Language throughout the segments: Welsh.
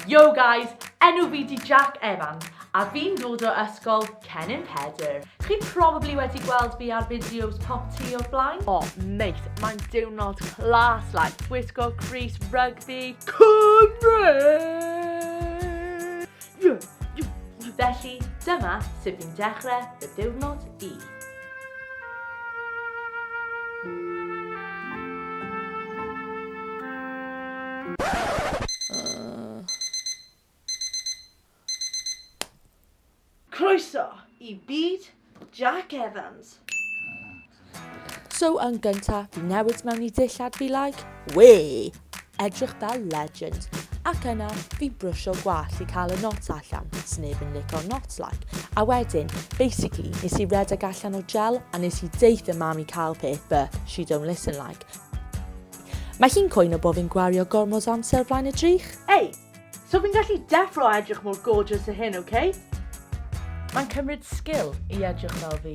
Yo guys, enw fi di Jack Evans a fi'n dod o ysgol Cennin Pedr. Chi probably wedi gweld fi ar fideos pop ti o'r blaen. O, mate, mae'n diwrnod class like gwisgo Greece rugby Cymru! Felly, dyma sut fi'n dechrau fy diwrnod i. Croeso i byd Jack Evans. So yn gynta, fi newid mewn i dillad fi like, wee! Edrych fel legend. Ac yna, fi'n brwsio gwallt i cael y knots allan, sneb yn lico knots like. A wedyn, basically, nes i redeg allan o gel a nes i deith y mam i cael peth, but she don't listen like. Mae hi'n coeno bod fi'n gwario gormod o amser flaen y drych. Ei! So fi'n gallu deffro a edrych mor gorgeous a hyn, ok? Mae'n cymryd sgil i edrych fel fi.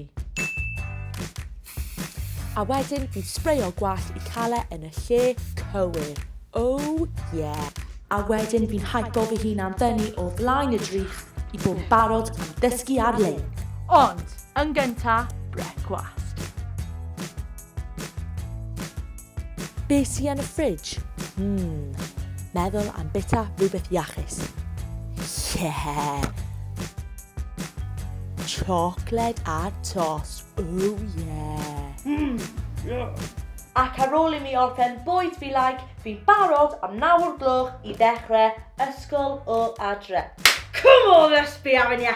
A wedyn bydd sbreio gwallt i cael e yn y lle cywir. Oh yeah! A wedyn fi'n hypo fy hun am fyny o flaen y drych i bod yn barod am ddysgu ar-lein. Ond, yn gynta, brecwast. Be sy yn y ffridge? Hmm, meddwl am bita rhywbeth iachus. Yeah! Chocolate a tos, oh yeah! Hmm, yeah! Ac ar ôl i mi orffen bwyd fi like, fi'n barod am nawr gloch i ddechrau ysgol o adre. Come on, let's be having ya!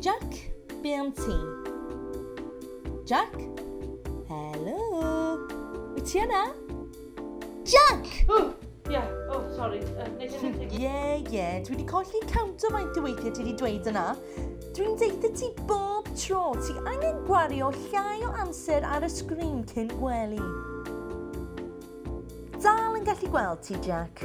Jac, be am ti? Jac? Helo? Wyt ti yna? Jac! O! Ie, o, sori. Ie, ie, dwi wedi colli cawnt o faint o weithiau ti wedi dweud yna. Dwi'n deud y ti bob tro, ti angen gwario llai o amser ar y sgrin cyn gwely. Dal yn gallu gweld ti, Jack.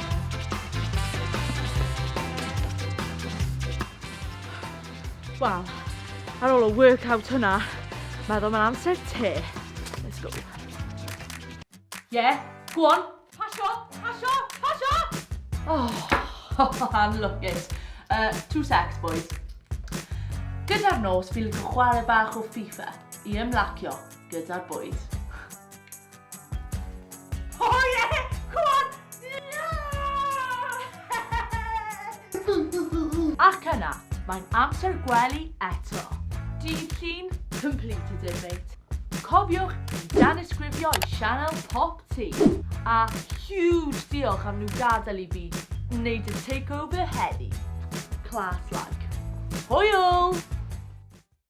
Wel, ar ôl y workout hwnna, meddwl mae'n amser te. Let's go. Yeah, go on. Pasio, pasio, pasio! Oh, I'm looking. Uh, two secs, boys. Gyda'r nos, fi'n chwarae bach o FIFA i ymlacio gyda'r bwyd. Ac yna, mae'n amser gwely eto. Dydd Llun, completed it mate. Cofiwch i danysgrifio i sianel Pop T. A huge diolch am nhw gadael i fi wneud y takeover heddi. Class like. Hwyl!